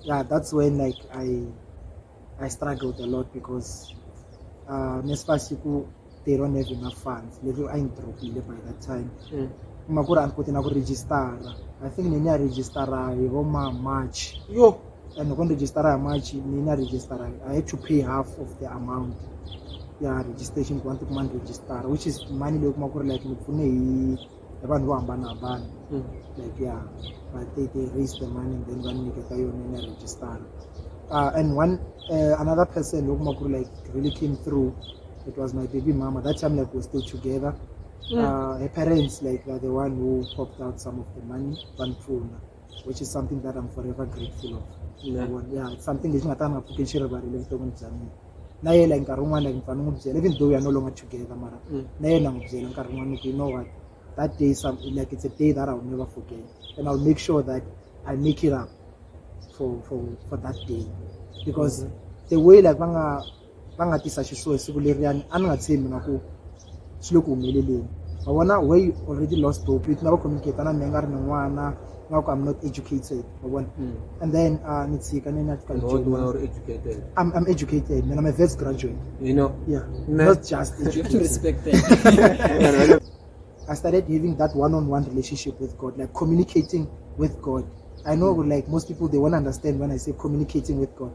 yeah that's when like i i struggled a lot because uh nesiba siku they don't have enough funds leswi a yi dropile by that time mm. kuma ku ri a ni koti na ku registara i think ni ni ya registara hi vo ma march yo and loko ni registara hi march ni na registara i had to pay half of the amount ya registration ku va ni tikuma ni registara which is money leyi kuma ku ri like ni pfune hi ya vanhu vo hambanahambana hmm. like ya va te te raise the money and then va ni nyiketa yona ni ya register uh, and one uh, another person loko ma ku ri like really came through it was my baby mama that time like we still together yeah. Hmm. uh, her parents like are the one who popped out some of the money vanipfuna which is something that I'm forever grateful of yeah. yeah it's something lexi nga ta nga pfuki xi rivarile vuton'wini bya mina na ye like nkarhi wun'wana like mfana n'wi byela even though we are no longer together mara mm. na yena n'wi byela nkarhi wun'wana ni ku you know what that day some, like it's a day that I will never forget and I will make sure that I make it up for for for that day because mm -hmm. the way like va nga va nga tisa xisuhi hi siku leriyani a ni nga tshembi na ku swi le ku humeleleni wa vona way already lost hope na va communicate na mina nga ri ni n'wana nga ku i'm not educated wa vona hmm. and then a ah, ni tshika ni na educated i'm i'm educated mina i'm a vets graduate you know yeah not just educated respect that I started having that one-on-one relationship with God, like communicating with God. I know, like most people, they won't understand when I say communicating with God.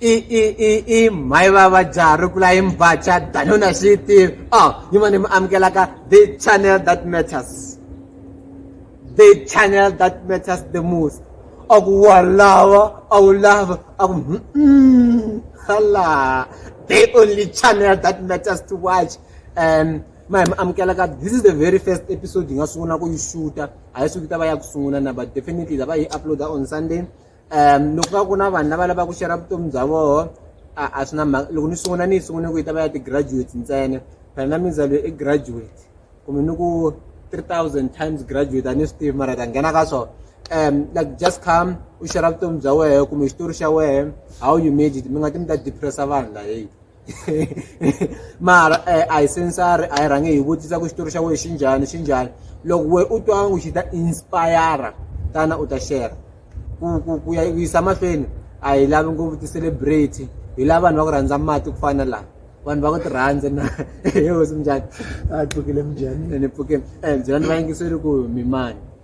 i i i i mhayi va va jaha ri kula hi mbacha dano na swi tivi o oh, ni ma ni mi amukelaka the channel that matters the channel that matters the most a ku wa lava a wu lava a ku hala the only channel that matters to watch um ma hi mi amukelaka this is the very first episode hi nga sungula ku yi xuta a yi suki ta va ya ku sungula na but definitely ta va yi uploada on sunday um loko va ku na vanhu lava lavaka ku xera vutomi bya voho a a swi na mhaka loko ni sungula ni yi sungule ku yi ta va ya ti-graduate ntsena phela na mindzalo i graduate kumbe ni ku three thousand times graduate a ni swi tivi mara ta nghena ka swona um like just come u xera vutomi bya wehe kumbe xitori xa wehe how you made it mi nga ti mi ta depressa vanhu laheyi mara eh, a hi sensari a hi rhange hi vutisa ku xitori xa wena xi njhani xi njhani loko we u twa ngo xi ta inspire tana u ta share ku ku ku ya yisa mahlweni a hi lavi ngopfu ti-celebrity hi lava vanhu va ku rhandza mati ku fana laha vanhu va ku ti rhandza na hehosi minjhani a pfukile minjhani ene pfukile um byela ni vayingiseri ku mimani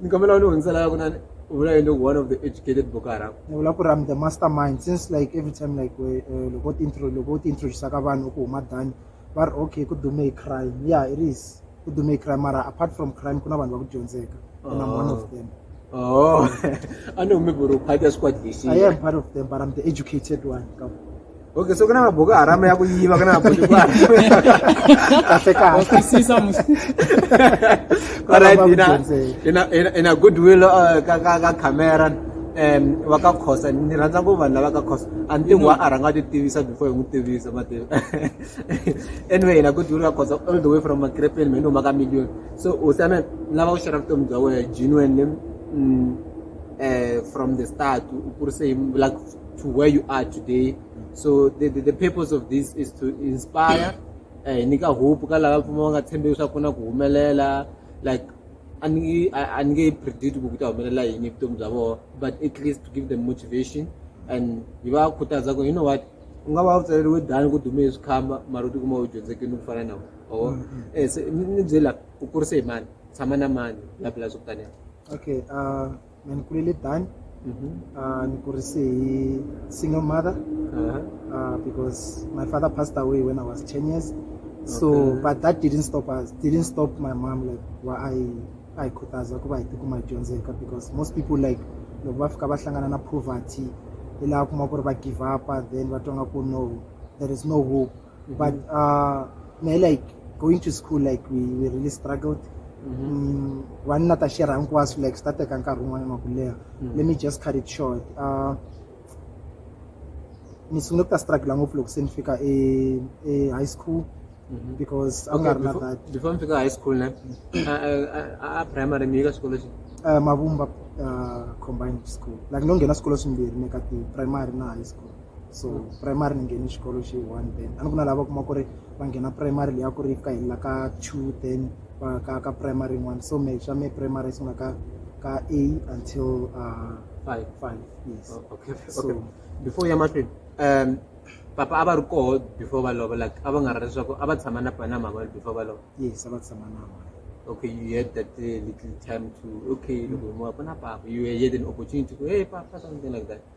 ni kombela u ni hundzela kunani u vula yini one of the educated boko haram ni vula ku ri am the master mind since like every time like eh, loko u ti-intro loko u ti-introduce ka vanhu ku huma dani va ri okay ku dume hi crime yeah it is ku dume hi crime mara apart from crime ku na vanhu va ku dyondzeka and i'm one of them oh i know maybe u part ya squad lexi i am part of them but i'm the educated one ka Okay, so kana mabhuku harama yakuyiva kana mabhuku in a good will uh, ka camera um va ka khosa ni rhandza ku vanhu lava ka khosa a ni tingi wa a rhanga ti tivisa before hi n'wi tivisa mativa anyway na ku duri ka khosa all the way from makrepeni me ni huma ka million so u same lava ku xera vutomi bya wena genuine um from the start u kurise like to where you are today so the, the, the purpose of this is to inspire eh, hi nyika hope ka lava pfuma va nga tshembe leswaku ku na ku humelela like a ni nge- a a ni nge predict ku ku ta humelela yini evutomi bya vona but at least to give them motivation and hi va khutaza ku you know what u nga va u tsaleriwe dani ku dume hi swikhamba mara u tikuma u dyondzekini ku fana na wona or eh, se- ni ni byela ku kurise hi mani tshama na mani bla bla swo ku taniya okay uh, mina ni kulele dani Mhm. uh, ni kurise hi single mother Uh-huh. uh, because my father passed away when i was 10 years so Okay. but that didn't stop us didn't stop my mom like wa a yi a yi khutaza ku va hi tikuma hi dyondzeka because most people like loko va fika va hlangana na poverty hi laha kuma ku ri va give upa then va twa nga ku no there is no hope mm-hmm. but uh, me like going to school like we, we really struggled mm-hmm. mm, na ta share hinkwaswo like swi ta teka nkarhi wun'wana wa ku leha mm. let me just cut it short uh, ni sungule ku ta struggle ngopfu loko se ni fika e, e high school mm-hmm. because a nga ri na that before mi fika high school ne a primary mi yi ka xikolo xi uh, mavumba uh, combined school like no nghena swikolo swimbirhi ni ka ti primary na high school so primary ni nghene xikolo xi one then a ni ku na lava kuma ku ri va nghena primary leyi a ku ri ka helela ka two then va ka ka primary yin'wana so me xa me primary sungula ka ka a until uh, five five yes oh, okay so, okay before ya mahlweni um papa a va ri koho before va lova like a va nga ri leswaku a va tshama na na mama before va lova yes a va tshama na mama okay, you had that uh, little time to, okay, mm. look, you have an opportunity to, hey, something like that.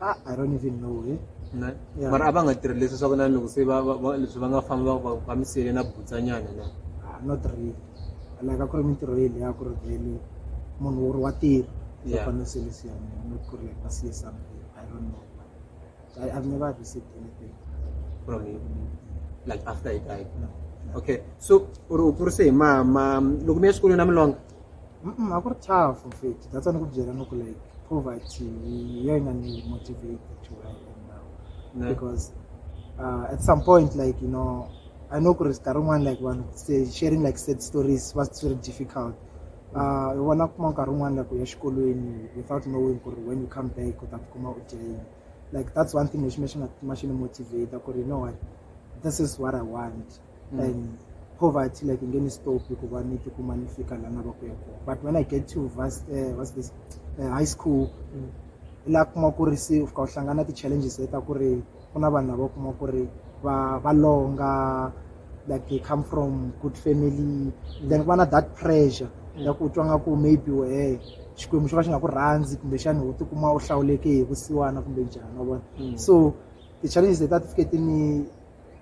Ah, I don't even know eh. na Yeah. mara a va nga tirhi leswi swa ku na loko se va va- va- leswi va nga fambi va- va- va mi siyele na butsanyana na Ah, not really like a ku ri mintirho yeli ya ku ri vhele munhu wo ri wa tirha Yeah. va fanele selisiana not ku ri like va siye something i don't know I, i've never received anything from him like after he died no. okay so u ri u kurise hi mama loko mi ya xikolweni na milonga a ku ri tough mfethu that's why ni ku byela ni ku like poverty hi yo yi nga ni motivate actually now because uh, at some point like you know i know ku ri sikarhi rin'wana like vanhu sharing like sad stories va swi ri difficult uh, hi vona kuma nkarhi wun'wana like u ya xikolweni without knowing ku ri when you come back u ta tikuma u dyeni like that's one thing lexi me xi nga tikuma xi ni motivate ku ri you know what this is what i want mm. and poverty like you ngeni stop hikuva ni tikuma ni fika la nava ku ya kona but when i get to vas, uh, eh, vas this, uh, high school mm. la kuma ku ri se u fika u hlangana ti-challenges leta ku ri ku na vanhu lava kuma ku ri va va longa like they come from good family then ku va na that pressure mm. ya ku twa nga ku maybe wehe xikwembu xo ka xi nga ku rhandzi kumbexani u tikuma u hlawuleke hi vusiwana kumbe njhani wa vona mm. so ti-challenges leti a ti fike ti ni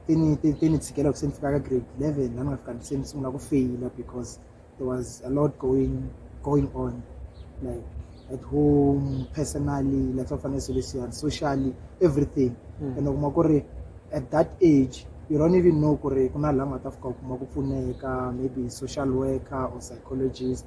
ti ni ti ti ni tshikela loko se ni fika ka grade eleven laha ni nga fika se ni sungula ku feyila because there was a lot going going on like at home personally la swa fanele swilo leswiyani socially everything hmm. and u kuma ku ri at that age you don't even know ku ri ku na laha nga ta fika u kuma ku pfuneka maybe social worker or psychologist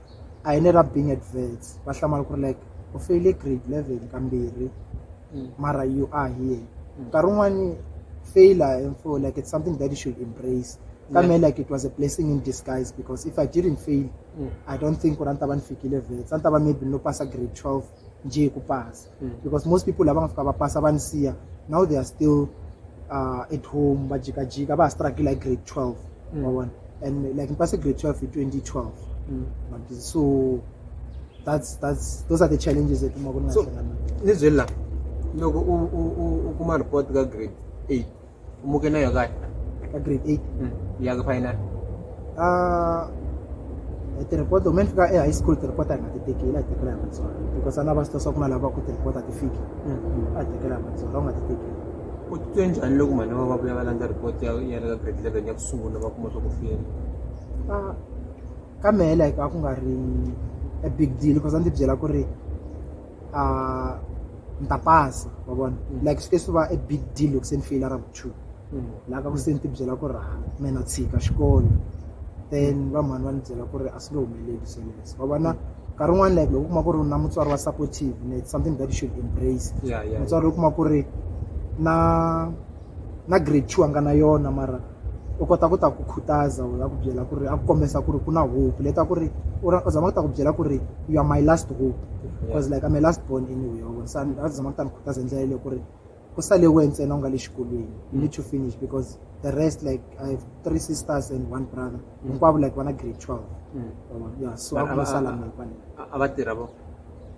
a hi le ka Bing Adverts va hlamala ku ri like u feyile grade eleven kambirhi mm. mara you are here mm. nkarhi wun'wani failure and for like it's something that you should embrace ka me like it was a blessing in disguise because if i didn't fail mm. i don't think ku ri a ni ta va ni fikile vets a ni ta va maybe no pasa grade twelve njhe ku pasa mm. because most people lava nga fika va pasa va ni siya now they are still uh, at home va jikajika va ha struggle like grade 12 mm. wa vona and like ni pase grade 12 hi 2012 mm. so that's that's those are the challenges that uma kunasona nizwela loko u kuma report ka grade 8 mu ke nayo kaya ka grade eight ya ka final a tirhipota me ni fika e-high school tirhipota hi nga ti teki la hi tekela hi matsolo because a na va swi twa ku na lava ku tirhipota ti fiki a hi tekela hi matsolo va nga ti teki u titwe njhani loko mhani va va vuya va landza report ya ya le ka grade eleven ya ku sungula va kuma swa ku fiyela a ka mehe like a ku nga ri a big deal because a ndzi byela ku ri uh, mtapasi wa vona mm. like swi te swi va a big deal loko se ni feyila ra ku two mm. laha ka ku se ni tibyela ku ri ha mina tshika xikolo then mm. va mhani va ni byela ku ri a swi nge humeleli sweleswo va vona nkarhi un'wana like loko u kuma ku ri na mutswari wa supportive ne something that you should embrace mutswari u kuma ku ri na na grade two a nga na yona mara u kota ku ta ku khutaza u ya ku byela ku ri a ku kombisa ku ri ku na hope leta ku ri u ra u zama ku ta ku byela ku ri you are my last hope because like I'm a last born anyway wa vona se a zama ku ta ni khutaza hi ndlela leyo ku ri ku sale we ntsena u nga le xikolweni you need to finish because the rest like I have three sisters and one brother hinkwavo like vana grade twelve ya so a ku lo sala mina kwale a va tirha vo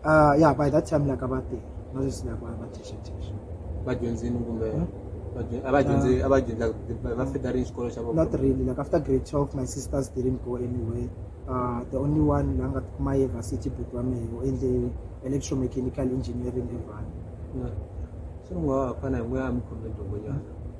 Ah, ya by that time like a va tirha na sweswi like va va thexathexa vadyondzini kumbe Hmm? vadyu- a va dyondzi a va dyondza va fita rini xikolo xa vona not really like after grade 12 my sisters didn't go anywhere uh, the only one la nga tikuma yi varsity book wa mehe u endle electromechanical engineering evhani swi nga ha fana hi n'we a mi khome dyongo nyana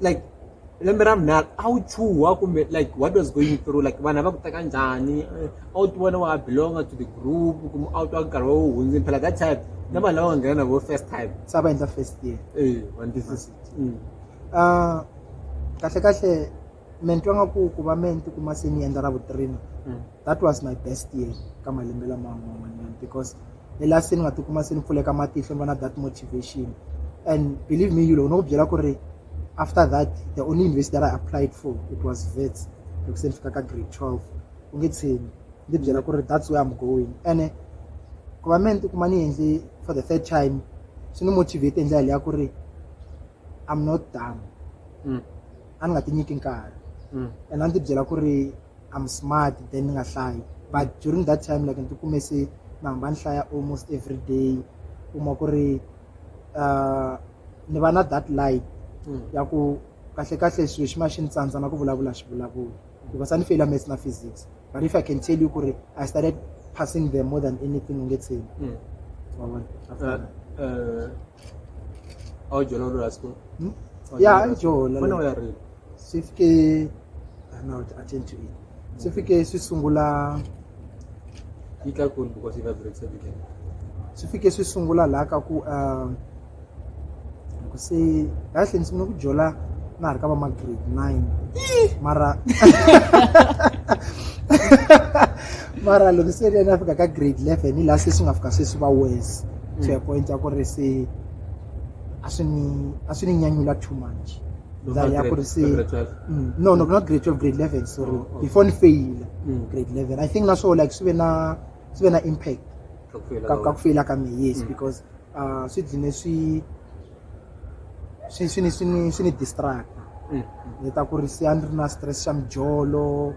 like lembe ra vunharhu a wu chuha kumbe like what was going through like vanhu va ku teka njhani a wu ti vona wa belonga to the group kumbe a wu twa nkarhi wa wu hundzini phela that time na vanhu lava va nghena na vo first time se va endla first year eh, mm. ah, kahle kahle me ni twa nga ku ku va me ni tikuma se ni endla ra vutrina mm. that was my best year ka malembe laman'wanyana because le la se ni nga tikuma se ni pfuleka matihlo ni va na that motivation and believe me yulo u no ku byela ku ri after that the only university that i applied for it was vets loko se ni fika ka grade twelve u nge tsheni ndzi byela ku ri that's where i'm going ene ku va me ni tikuma ni endle for the third time swi ni motivate hi ndlela leya ku ri i'm not done mm. a ni nga ti nyiki nkarhi mm. and a ni ti byela ku ri i'm smart then ni nga hlayi but during that time like ni ti kume se ni hamba ni hlaya almost every day kuma ku ri uh, ni va na that light mm. ya ku kahle kahle swilo xi ma xi ni tsandza na ku vulavula xi vulavula because a ni feyila maths na physics but if i can tell you ku ri i started passing them more than anything u nge tsheni mm. uh, uh, a wu dyona lula siku Hmm? Ya, a yi dyona. fana u ya rila swi fike ah, no a ten to eight swi fike swi sungula yi tlakuli because yi vibrates every day swi fike swi sungula laha ka ku um, loko se kahle ndzi sungula ku jola na ha ri ka va ma grade nine mara mara loko se ri na fika ka grade 11 hi laha se swi nga fika se swi va worse mm. to a point ya ku ri se a swi ni a swi ni nyanyula too much ndza ya ku ri se mm. no no not grade 12 grade 11 sorry oh, oh. before ni fail mm. grade 11 i think na so like swi ve na swi ve na impact ka ka ku faila ka me yes because uh swi dzine swi swi swi ni swi ni swi ni distract ni ta ku ri se a ni ri na stress xa mijolo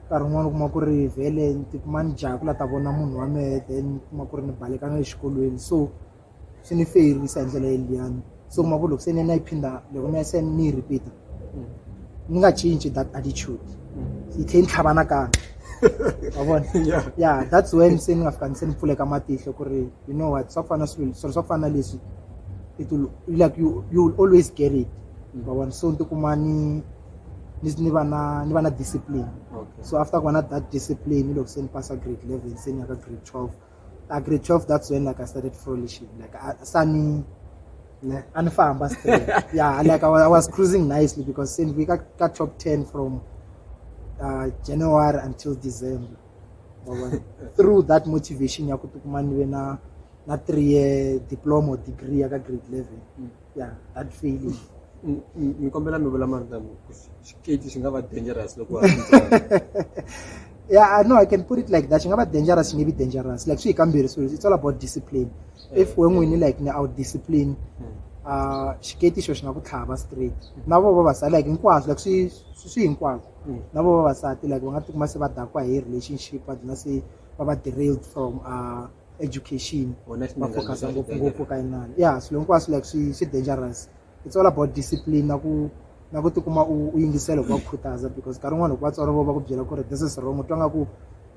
nkarhi wun'wani u kuma ku ri vhele ni ti kuma ni jaha ku la ta vona munhu wa mehe then ni kuma ku ri ni baleka na le xikolweni so swi ni feyirisa hi ndlela yeliyani so kuma ku loko se ni na yi phinda loko ni ya se ni yi repeat-a ni nga cinci that attitude yi tlhe ni tlhava nakambe wa vona ya that's when se ni nga fika ni se ni pfuleka matihlo ku ri you know what swa ku fana swilo swilo swa ku fana leswi it will like you, you will always get it wa vona so ni tikuma ni ni ni va na ni va na discipline okay. so after ku va na that discipline loko se ni pasa grade eleven se ni ya ka grade twelve a grade twelve that's when like i started frolishing like sa ni a ni famba straight yeah like I was, I was cruising nicely because se ni vi ka ka top ten from uh, january until december through that motivation ya ku tikuma ni ve na na three year diploma or degree ya ka grade eleven mm. ya that feeling Ni- ni ni kombela mi vula marito lama, ku xi- xikeji xi nga va dangerous loko wa ha ri ntsongo. yeah i know i can put it like that xi nga va dangerous xi nge vi dangerous like swi hi kambirhi swilo it's all about discipline if we n'wini like ni out discipline uh xiketi xo xi nga ku tlhava straight na vo vavasati like hinkwaswo like swi swi- swi hinkwaswo Mm. na vo vavasati like va nga tikuma se va dakwa hi relationship va dlina se va va derailed from uh education va focus ngopfungopfu ka inani ya swilo hinkwaswo like swi swi dangerous it's all about discipline na ku na ku tikuma u yingisela hi ku va khutaza because nkarhi wun'wana loko vatswari vo va ku byela ku ri this is wrong u twa nga ku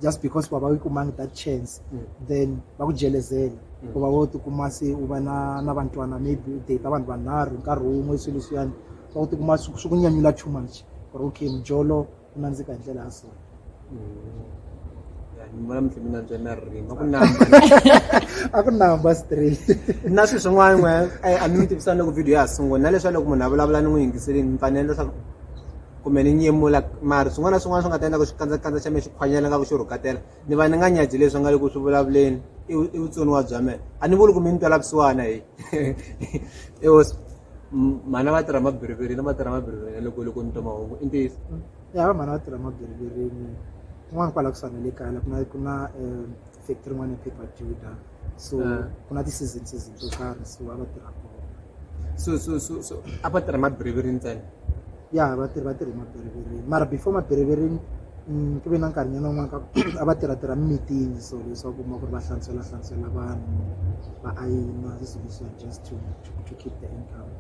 just because va va yi kumangi that chance mm. then va ku jelezela mm. ku va wo tikuma se u va na na vantwana maybe u data vanhu vanharhu nkarhi wun'we swilo swiyani va ku tikuma swi ku nyanyula too much ku ri okay mjolo ku nandzika hi ndlela ya so Ya, ni vona mutlimbi nantswa na ririmi a ku namba a ku namba straight na swilo swin'wana n'we eh, a mi mi tivisana loko video ya ha sungula na leswa loko munhu a vulavula ni n'wi yingiseleni mi fanele leswaku kumbe ni nyemula mari swin'wana na swin'wana swi nga ta endla ku xikandza-kandza xa mina xi khwanyela nga ku xi rhukatela ni va ni nga nyaji leswi nga le ku swi vulavuleni i vu- i vutsoniwa bya mina a ni vuli ku mi ni twela vusiwana hi i hosi mhana va tirha mabirivirini va tirha mabirivirini loko loko ni twa mahungu i ntiyiso mm. ya va mhana va tirha mabirivirini kun'wana kwala ku swana le kaya la ku na ku na um factory yin'wana ya paper juda so eh. ku na ti-season season to karhi so a va tirha kona so so so so a va tirha mabirivirini ntsena ya vatirhi va tirhi mabiriviri mara before mabirivirini mm, ku ve na nkarhi nyana wun'wana ka a va tirhatirha mimitini so leswaku ma ku ri va hlantswela hlantswela vanhu va ayina sisolution just to, to, to keep the income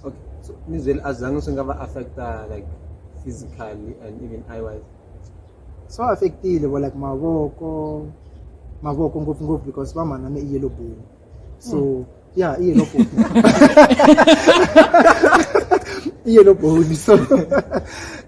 okay so mizweli a zange swi nga va affecta like physically and even eye wise so affectile vo like mavoko mavoko ngopfungopfu because va mhana ni i yellow bone So yeah, iye no bhoni. iye no bhoni. So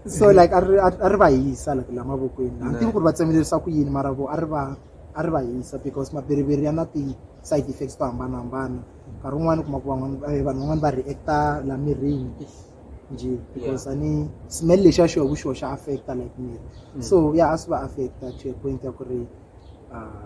so like a ri a ri va hisa like la mavokweni. A tivi ku ri va tsemelelisa ku yini mara vo a ri va a ri va hisa because mabiriviri ya na ti side effects to hambanahambana. Nkarhi wun'wana u kuma ku van'wana eh, vanhu van'wana va reacta la mirini nje because a ni smell lexiya xo hi ku xoxa affecta like miri. Mm. So yeah a swi va affecta to a point ya ku ri uh,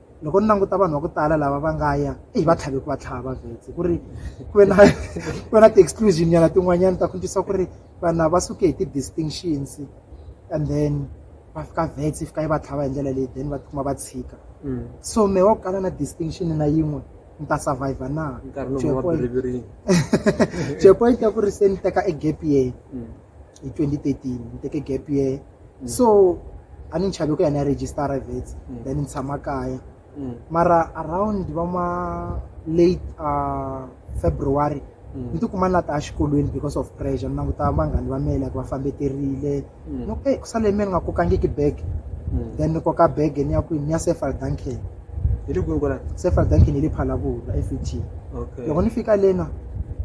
loko ni languta vanhu va ku tala lava va nga ya eyi va tlhave ku va tlhava vhetse ku ri ku ve na ku ve na ti-exclusion nyana tin'wanyana ta ku ntwisa ku ri vanhu va suke hi ti-distinctions and then va fika vhetse yi fika yi va tlhava hi ndlela leyi then va tikuma va tshika mm. so me wa ku kala na distinction na yin'we ni ta survive na to a point ya ku ri se ni teka e gap yeyi mm. hi 2013 ni teke gap year mm. so a ni nchavi ku ya ni ya register-a vets mm. then ni tshama kaya mm. mara around va ma late uh, february mm. ni tikuma ni la ta exikolweni because of pressure ni languta vanghani va mela ku va fambeterile mm. no e ku sale me ni nga kokangiki bag mm. then ni koka bag ni ya kwini ni ya sefal duncan mm. hi le kwihi kwala se fadaki ni le phalakula fut okay loko ni fika lena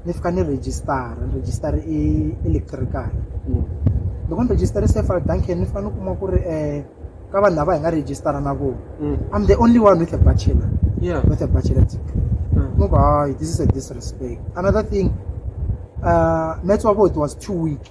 ni fika ni register ni register i electrical Mm. loko ni register se fadaki ni fika ni kuma ku ri um ka vanhu lava hi nga register na vona Mm. i'm the only one with a bachelor yeah with a bachelor degree Mm. no hayi this is a disrespect another thing uh maths wa voti was too weak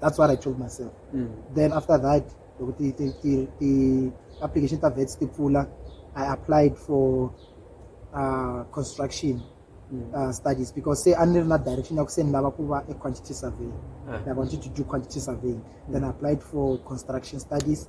that's what i told myself mm. then after that loko ti-application ta vets ti pfula i applied for uh, construction mm. uh, studies because say a ni ri na direction ya ku se ni lava ku va e-quantity surveying ah. i wanted to do quantity surveying then i mm. applied for construction studies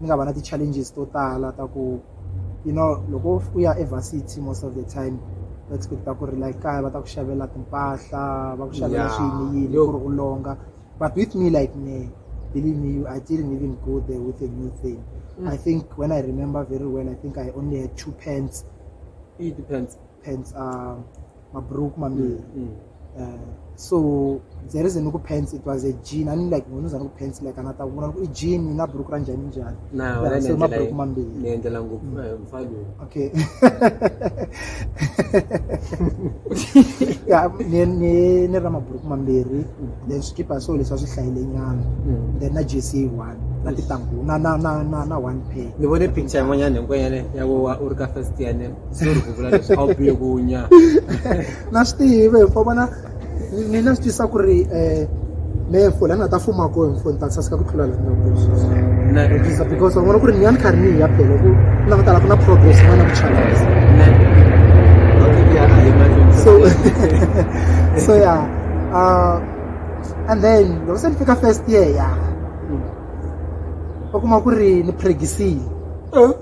ni nga va na ti-challenges to tala ta ku you know loko u ya evarsity most of the time va expecta ku ri la kaya va ta ku xavela timpahla va ku xavela yeah. swiyini yini ku ri u longa but with me like me believe me i didn't even go there with a new thing mm. i think when i remember very well i think i only had two pants pants um mabhuruku mambiri mm. uh, so there isn't ku pants it was a jean ani like munhu zana ku pants like anata kuona ku jean na bhuruku ra njani njani yeah, so mabhuruku mambiri niendela ngo mm. eh, mfalo okay ya ni ni ni ra mabhuruku mambiri mm. then skipa so leswa swi hlayile nyana mm. then na jc one na titangu na na na na one pair ni vone picture yin'wanyana hinkwanyana ya wa u ri ka first year se ri ku vula leswi a wu biye ku nya na swi tiyive hikuva vona ni na swi twisa ku ri um me fo la ni nga ta fuma ko hi mfo ni ta saseka ku tlula laisa because wa vona ku ri ni ya ni karhi ni hi ya phela ku na ku tala ku na progress va na ku chalisa so so ya uh, and then loko se ni fika first year ya va kuma ku ri ni pregisile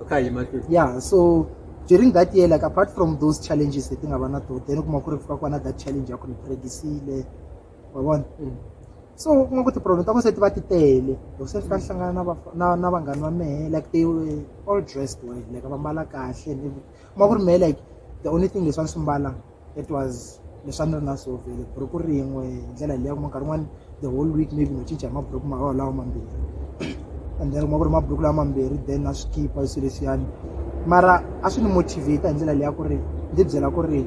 okay hi mahlweni yeah so during that year like apart from those challenges leti nga va na to then u kuma ku ri fika kwana that challenge ya ku ni pregisile wa vona mm. so u kuma ku ti-problem ta ku se ti va ti tele loko se fika ni hlangana na na na vanghani va mehe like they were all dressed well like va mbala kahle kuma ku ri mehe like the only thing leswi a ni swi mbala it was leswi a ni ri na so vhele buruku rin'we hi ndlela leyi ya kuma nkarhi wun'wani the whole week maybe no cinca hi maburuku marawa lawa mambirhi and then kuma ku ri maburuku lawa mambirhi then na swi khipa swilo leswiyani mara a swi ni motivate hi ndlela leyi ya ku ri ndzi byela ku ri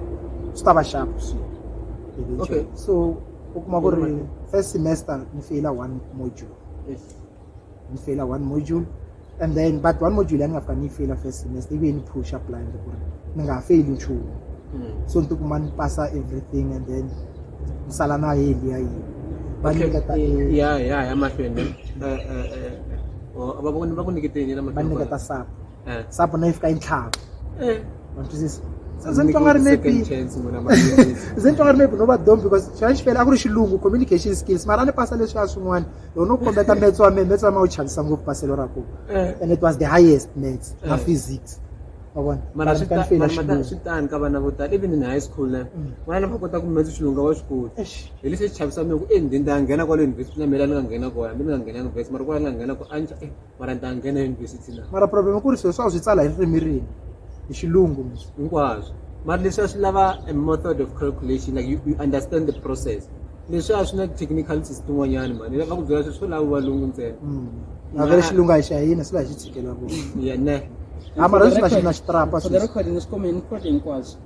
swi ta va sharp swilo okay so u kuma ku ri first semester ni feyila one module yes. ni feyila one module and then but one module ya ni nga fika ni yi feyila first semester ivi yi ni pusha blind ku ri ni nga ha feyili nchumu hmm. so ni tikuma ni pasa everything and then ni sala na heli ya yini va ni nyiketa ya ya ya mahlweni eh, eh, eh, oh, va ku nyiketeni va ni nyiketa sapa Eh. sapo na yi fika yi ntlhava Eh. wa swi twisisa se ze ni twa nga ri maybe Second chance n'wina malembe. ze ni twa nga ri maybe no va dom because xana xi fele a ku ri xilungu communication skills mara a ni pasa leswi a swin'wana loko no kombeta metso wa mehe metso wa ma wu chavisa ngopfu paselo ra kona Eh. and it was the highest maths na Eh. physics wa vona mara swi ta- fela mara mata- xilungu swi tani ka vana vo tala even in high school na Mm. n'wana lava kota ku metsa xilunga wa xikulu Eish. hi lexi xi chavisa mina ku endhindha a nghena kwale university na mina ni nga nghena kona hambi ni nga nghena university mara kwala ni nga nghena kona a ni ta- eh, mara ni ta nghena yunivhesiti na mara problem ku ri swilo swa swi tsala hi ririmi rini hi xilungu hinkwaswo mara leswi a swi lava a method of calculation like you, you understand the process leswi a swi na technicalities tin'wanyani mani lava ku byela swilo swo lava valungu ntsena mm. avele xilungu a hi xa hina swi la hi xi tshikela vona ya ne a mara leswi na xi na xitrapa swi recording swi khome hinkwato hinkwaswo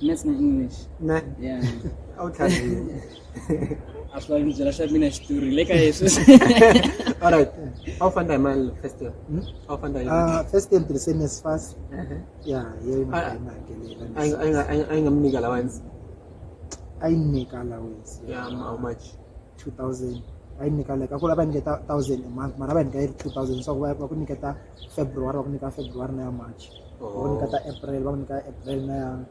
maths na english ne a wu tlharihi As long as you accept me to relate Jesus. All right. How far am I first year? Hmm? How far am I? Ah, first year the same as fast. Uh-huh. Yeah, yeah. Ah, I I I I am making allowance. I make allowance. Yeah, how much? 2000. I make like akula ba niketa 1000 a month, mara ba niketa 2000. So ba ku niketa February, ba ku niketa February na March. Oh. Ba ku niketa April, ba ku niketa April na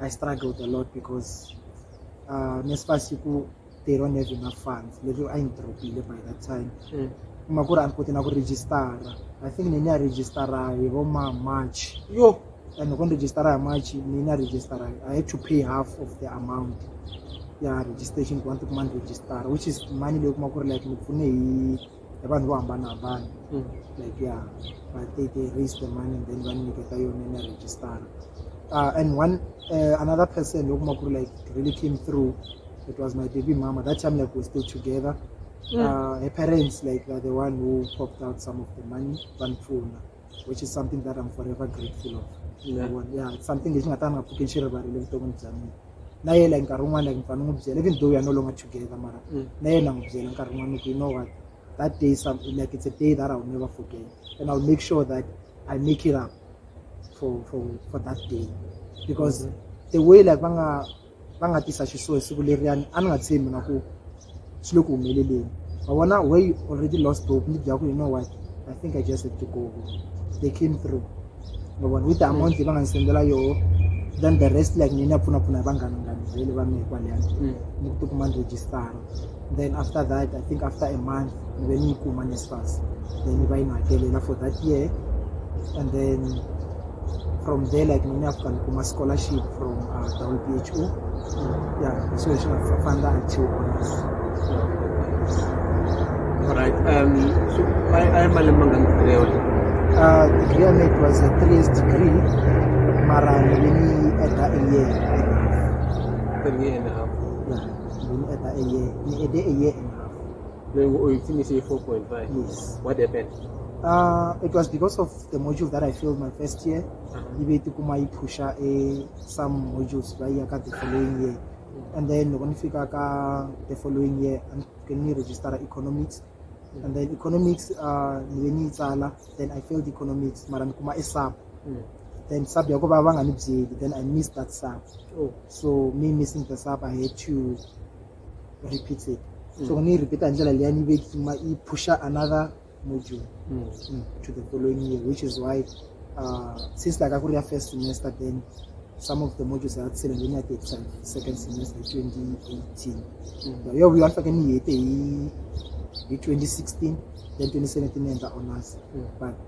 I struggled a lot because uh, nesifasi ku they don't have enough funds leswi a yi dropile by that time mm. kuma ku ri a ni koti na ku registara i think ni ni ya registara hi vo ma march yo and loko ni registara hi march ni ni ya registara i had to pay half of the amount ya registration ku va ni tikuma ni registara which is money leyi kuma ku ri like ni pfune hi ya vanhu vo hambanahambana mm. like ya va teke raise the money and then va ni nyiketa yona na registara uh, and one uh, another person yo kuma ku ri like really came through it was my baby mama that time like we're still together mm. uh, her parents like are the one who popped out some of the money vanipfuna which is something that I'm forever grateful of yeah. yeah it's something lexi nga ta nga pfuki xi rivarile vuton'wini bya mina na ye like nkarhi wun'wana like mfana n'wi byela even though we are no longer together mara mm. na yena n'wi byela nkarhi wun'wana ku you know what that day some, like it's a day that I will never forget and I'll make sure that I make it up for for for that day because mm -hmm. the way like va nga va nga tisa xisuhi siku leriyani a ni nga tshembi na ku swi le ku humeleleni wa vona way already lost hope ni bya ku you know what i think i just have to go they came through ma vona with the amount leyi va nga ni sendela yoho then the rest like ni na pfunapfuna hi vanghana ngani vhele va mehe kwaleyani ni ku tikuma ni register then after that i think after a month ni ve ni yi kuma nesfas then yi va yi ni hakelela for that year and then from there like ni ni afika ni kuma scholarship from uh, down p h o yeah hi swilo swi nga fa- famba until honors Alright, um, so I, I am a Lemanga Leola. uh, degree ya me it was a three years degree mara ni ve ni yi add a year and a half Three and a half. yeah. mo ní ẹ̀ta ẹyẹ ní èdè ẹyẹ ẹ̀ lẹ́yìn oye tí mi ṣe four point five yes what happened. Uh, it was because of the module that I failed my first year. Uh-huh. Ibe to kuma i push a some modules by ya ka the following year. Mm-hmm. And then when fika ka the following year and can you register economics. Mm-hmm. And then economics uh ni ni tsala then I failed economics mara kuma e sub. mm. then sub ya ku va va nga ni byeli then i miss that sub oh. so me missing the sub i had to repeat it mm. so ni yi repeata hi ndlela leya ni vekima yi pusha another module mm. Mm, to the following year which is why uh, since like a ku ri ya first semester then some of the modules are sele leyi ni ya ti hetisa second semester hi 2018 mm. yo vuyo a ni faneke ni hete hi hi 2016 then 2017 ni endla honors mm. but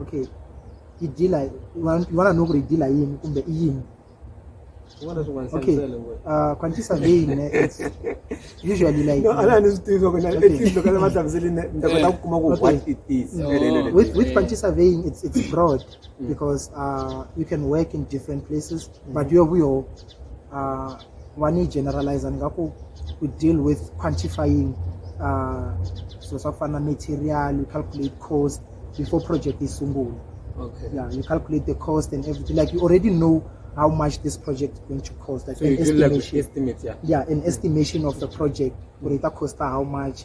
okay i dealer vana no ku ri dealer yini kumbe i yini okay uh quantity survey ne it's usually like no ala ni swi ku na it's loko va hlamuseli ne ni ta kota ku kuma ku what it is with with quantity surveying it's it's broad mm. because uh you can work in different places mm. but you have your uh ku va ni yi generalizer ni nga ku we deal with quantifying uh, swilo swa ku fana na material you calculate cost before project yi sungula okay. yeah, you calculate the cost and everything like you already know how much this project is going to cost like so an estimation like estimate, yeah. yeah an estimation of the project or it cost how much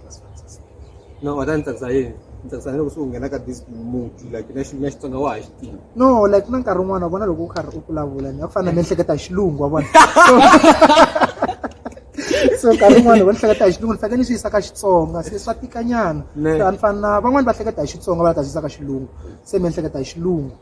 no wena ni tsakisa yini ni tsakisa loko swi nghena ka this muti like na xi na xitsonga wa ha xi tiva no like na nkarhi wun'wana vona loko u karhi u vulavula ni a ku fana na miehleketo ya xilungu wa vona so nkarhi wun'wana va ni hleketa hi xilungu ni fanekele ni swi yisa ka xitsonga se swa tikanyana a ni fani na van'wani va hleketa hi xitsonga va la ta swi yisa ka xilungu se mi ni hleketa hi xilungu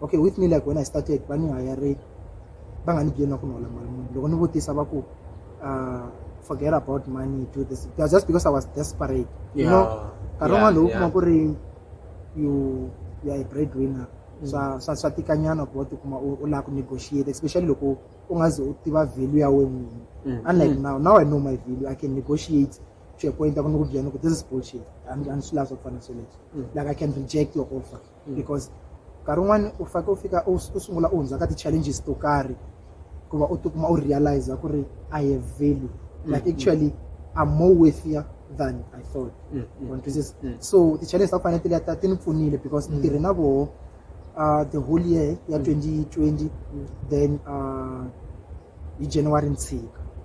okay with me like when i started va ni hayare va nga ni byeli na ku ni hola mali muni loko ni vutisa va ku uh, forget about money do this it was just because i was desperate you know nkarhi wun'wana lowu kuma ku ri you you are a bread winner mm. swa swa swa tikanyana ku va tikuma u lava ku negotiate especially loko u nga ze u tiva value ya wena n'wini mm. unlike mm. now now i know my value i can negotiate to a point a ku ni ku byela ku this is bullshit and and swi lavi swa ku fana sweleswo like i can reject your offer because nkarhi wun'wani u fake u fika u sungula u hundza ka ti-challenges to karhi ku va u tikuma u realize ku ri i have value mm, like mm. actually i'm more worthier than i thought mm, so ti-challenge ta ku fanele tileta ti ni pfunile because ni tirhe na voho uh, the whole year ya 2020 then uh, hi january ni tshika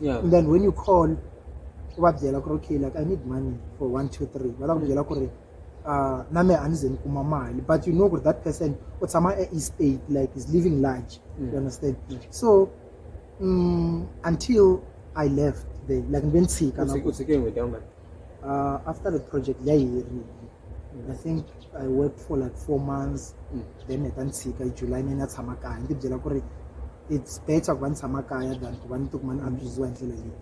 yeah. and then when you call u va byela ku ri okay like i need money for one two three va ta ku byela ku ri uh, na me a ni ze ni kuma mali but you know ku ri that person u tshama e-east aid like is living large mm. you understand mm. so um, until i left there like ni ve ni tshika Uh, after the project yayiherile i think i worked for like four months mm. then heta ni tshika july ni na tshama kaya ni tibyela ku ri it's better ku va ni tshama kaya than ku va ni tikuma ni abusiwa hi ndlela leyi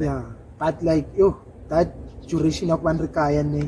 ya but like yo that duration ya ku va ni ri kaya ni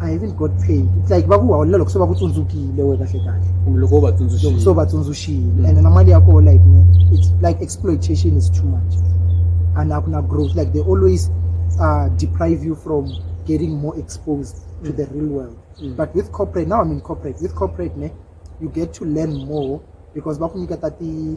I even got paid it's like va ku holela loko se va ku tsundzukile we kahle kahle kumbe loko va tsundzuxile so va tsundzuxile and na mali ya koho like ne it's like exploitation is too much and a ku na growth like they always uh, deprive you from getting more exposed to the real world Mm. but with corporate now i'm in corporate with corporate ne you get to learn more because va ku nyiketa ti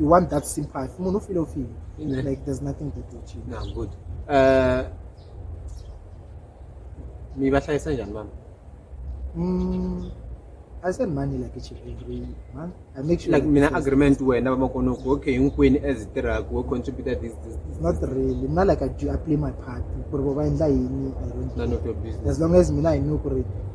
you want that sympathy munhu u file u file Yeah. like there's nothing that will change na good Eh, mi va hlayisa njhani mama mm, i send money like each and every month i make sure like mina agreement wena vamakona ku okay hinkwini as hi tirhaku wo contributor this this this not really not like i do i play my part ku ri vo va endla yini i don't none of your business as long as mina i know ku ri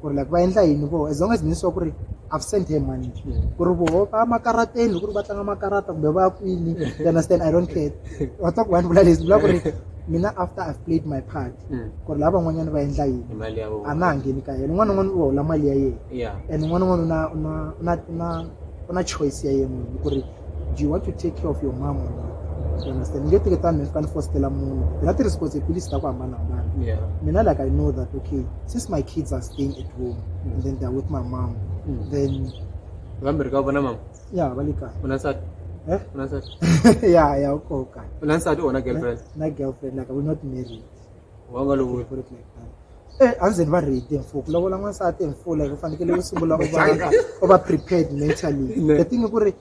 ku ri like va endla yini voho as long as ni swa ku ri i've sent her money ku ri voho va makarateni ku ri va tlanga makarata kumbe va kwini you understand i don't care wa twa ku vanhu vula leswi vula ku ri mina after i've played my part mm. ku ri lava van'wanyana va endla yini a na ha ngheni ka yena un'wana un'wana u hola mali ya yena and un'wana un'wana u na choice ya yena ku ri Do you want to take care of your mom or not? You understand? Nge teke tani ni fanele fositela munhu. Hi na ti-responsibilities ta ku hambanahambana. Yeah. Mina like I know that okay, since my kids are staying at home mm. and then they're with my mom, mm. then Va mi ri ka vona mama? Yeah, va le kaya. U na nsati? Eh? U na nsati? Yeah, yeah, u koka. U na nsati or na girlfriend? Na girlfriend, like we're not married. wa nga lovoyi ku ri Eh, a ndzi va read mfuku ku lavola n'wansati hi mpfula hi ku fanekele u sungula u va u va prepared mentally the thing ku ri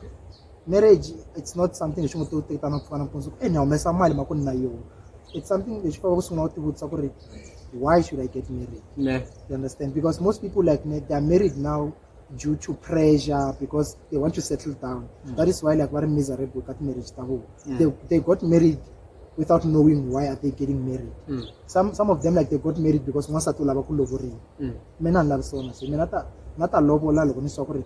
marriage it's not something lexi ngo to teka na pfukana mpundzu e ni humesa mali ma ku ni na yona it's something lexi faka ku sungula u tivutisa ku ri why should i get married ne you understand because most people like me they are married now due to pressure because they want to settle down mm. that is why like very miserable that marriage ta vona mm. they, they got married without knowing why are they getting married mm. some, some of them like they got married because n'wansati u lava ku lovoriwa mm. mina ni lavi swona se mina ta na ta lovola loko ni swa ku ri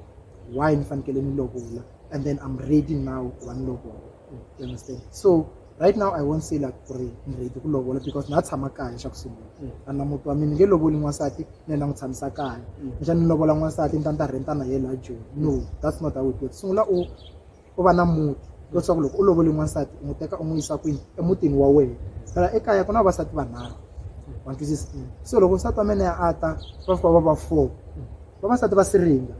why ni fanekele ni lovola and then i'm ready now ku va ni lovola mm. you understand so right now i won't say like ku ri ni ready ku lovola because na tshama kaya xa ku sungula mm. a na muti wa mina ni nge lovoli n'wansati ni yena n'wi tshamisa kaya mm. kuxa ni lovola n'wansati ni ta ni ta renta na yena joni no that's not how it works sungula u u va na muti leswaku loko u lovoli n'wansati u n'wi teka u n'wi yisa kwini emutini wa wena phela ekaya ku na vavasati vanharhu wa twisisa so loko nsati wa mina ya a ta va fika va va four vavasati va siringa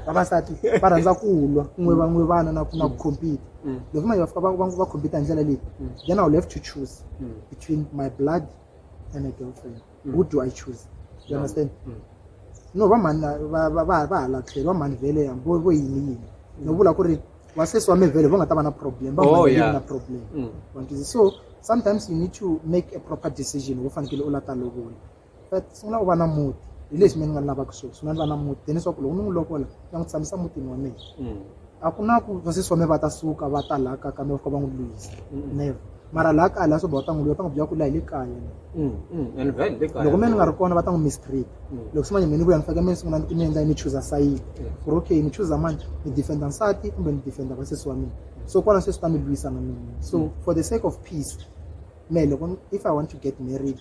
vavasati va rhandza ku lwa kun'we va n'we vana na na ku compete mm. loko manje va fika va compete hi ndlela leyi mm. then i will have to choose mm. between my blood and my girlfriend who do i choose you understand no va mhani va hala tlhelo va mhani vhele vo vo yini yini no vula ku ri vasesi wa mevhele vo nga ta va na problem va oh, na problem so sometimes you need to make a proper decision wo fanekele u la ta lovola va sungula ku va na muti hi leswi mina ni nga lavaka sweswi mina ni va na muti then leswaku loko ni n'wi lovola na n'wi tshamisa mutini wa mina mm. a ku na ku vasesi wa mina va ta suka va ta laha ka ka mina va fika va n'wi lwisa mm. never mara laha kaya laha soba va ta n'wi lwiwa va ta n'wi byela ku laha hi le kaya mm, loko mina ni nga ri kona va ta n'wi mistreat loko simanye mina ni vuya ni faneke mina sungula ni endla ni chuza sayidi ku ri okay ni chuza mani ni defenda nsati kumbe ni defenda vasesi wa mina so kwala sweswi ta ni lwisa na mina so for the sake of peace me loko if i want to get married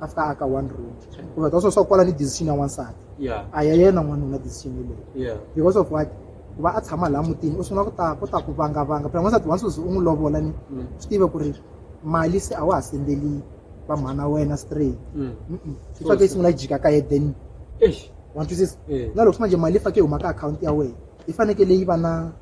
after a ka one room kumbe ka swo swa kwala ni decision ya wansati a ya yena n'wanuna decision yeleyo because of what ku va a tshama laha mutini u sungula ku ta ku ta ku vangavanga phela n'wansati wa nsuzi u n'wi lovola ni mm. swi tive ku ri mali se a wa ha sendeli va mhana wena straight mm. swi fake yi sungula yi jika ka ye then wa twisisa na loko swi manje mali yi fake yi huma ka akhawunti ya wena yi fanekele yi va na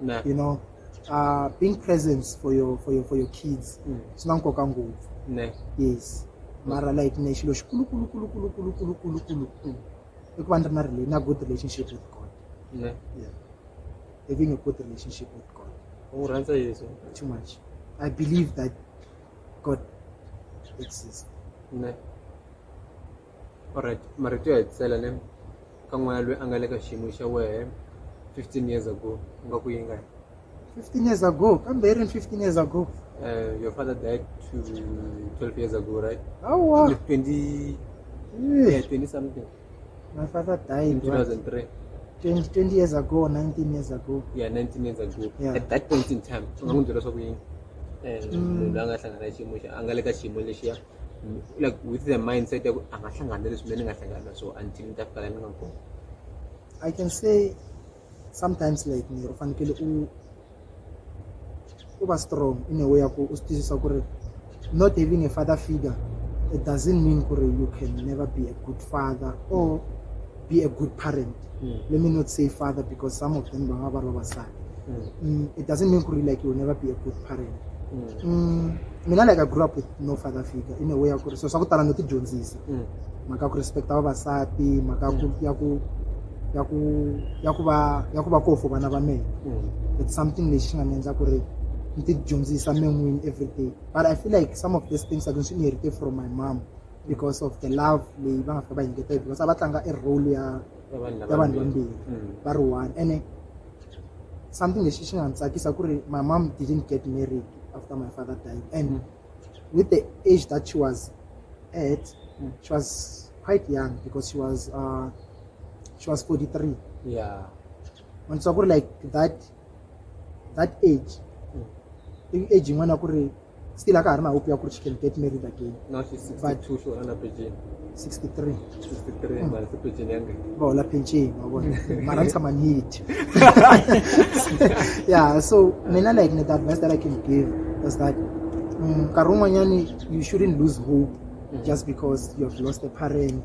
Nah. you know uh, being present for your for your for your kids mm. swi na nkoka ngopfu yes mara like ne xilo xikulukulukulukulukulukulukulukulu mm. i ku va ni ri na rela na good relationship with god yeah. having a good relationship with god u rhandza yesu too much i believe that god exists ne Alright, marito yo hetisela ne ka n'wana loyi a nga le ka xiyimo xa wehe 15 years ago u nga ku yinga 15 years ago kambe yi ri 15 years ago uh, your father died to 12 years ago right awa 20 yeah, 20 something my father died in 2003 20, 20 years ago or 19 years ago yeah 19 years ago yeah. at that point in time unga n'wi byela swa ku yini um munhu a nga hlangana xiyimo xa a nga le ka xiyimo lexiya like with the mindset ya ku a nga hlangana leswi mina ni nga hlangana na swona until ni ta fika la ni nga kona i can say sometimes like ni u fanekele u u va strong in a way ya ku u swi twisisa ku ri not having a father figure it doesn't mean ku ri you can never be a good father or be a good parent mm. let me not say father because some of them bangaba ba basadi mm. mm, it doesn't mean really like you will never be a good parent mm. mm, mina like i grew up with no father figure in a way ya ku ri so swa ku tala no ti dyondzisa mm. mhaka ku respecta vavasati mhaka ku mm. ya ku ya ku ya ku va ya ku va kofo vana va mehe mm. it's something lexi xi nga ni endla ku ri ni ti dyondzisa men'wini everyday but i feel like some of these things i can swi inherited from my mom because of the love leyi va nga fika va yi ngetela because a va tlanga i role ya Ya vanhu lava ya vanhu vambirhi. vambirhi Mm. va ri one ene something lexi xi nga ni tsakisa ku ri my mom didn't get married after my father died and Mm. with the age that she was at Mm. she was quite young because she was uh, she was 43 yeah wanisa ku ri like that that age i age yin'wana ku ri still a ka ha ri na hope ya ku ri she can get married again now she's 62 so under pension 63 63 mara se pension yanga ba hola pension wa vona mara ni tshama ni dya yeah so mina like ni the advice that i can give is that mm, nkarhi wun'wanyani you shouldn't lose hope just because you have lost a parent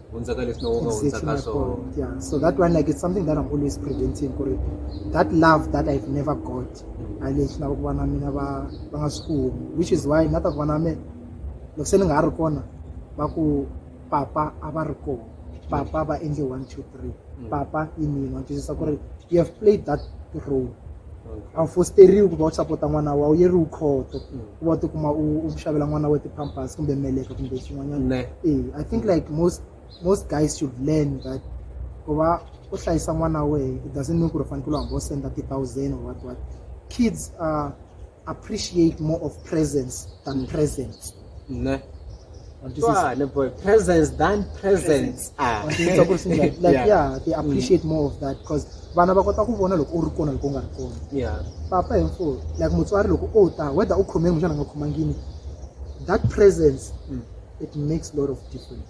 hundzaka leswi no nga hundzaka swona yeah so that one like it's something that i'm always preventing ku ri that love that i've never got mm. a lexi lava ku vana mina va va nga swi kumi which is why na ta vana me loko se ni nga ha ri kona va ku papa a va ri kona papa va endle one two three mm. papa i mina twisisa ku ri you have played that role a wu fosteriwi ku va u sapota n'wana wa wu yeriwi khoto mm. ku va u tikuma u xavela n'wana wa ti-pampers kumbe meleka kumbe xin'wanyana e i think mm. like most most guys should learn that ku va u hlayisa n'wana wa wehe it doesn't mean ku ri u fanekele u hamba u senda ti-thousand or what what kids are appreciate more of presence than presents ne What is this? Twale, boy presence than presents ah Or things like this, like, like, Yeah. yeah they appreciate more of that because vana va kota ku vona loko u ri kona loko u nga ri kona yeah papa hinfo like mutswari loko o ta whether u khomeni kumbexana a nga khomangini that presence Mm. it makes a lot of difference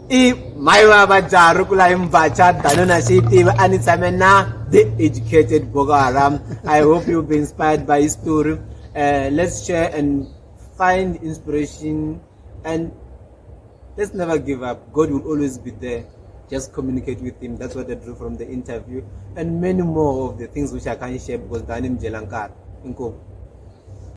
i mhai va va dzaha ri kula hi mbatha dano na xi yi tiva a ni tshame na the educated boko haram i hope you'll be inspired by his story uh, let's share and find inspiration and let's never give up god will always be there just communicate with him that's what i drew from the interview and many more of the things which i can't share because dani mjela nkari inkomu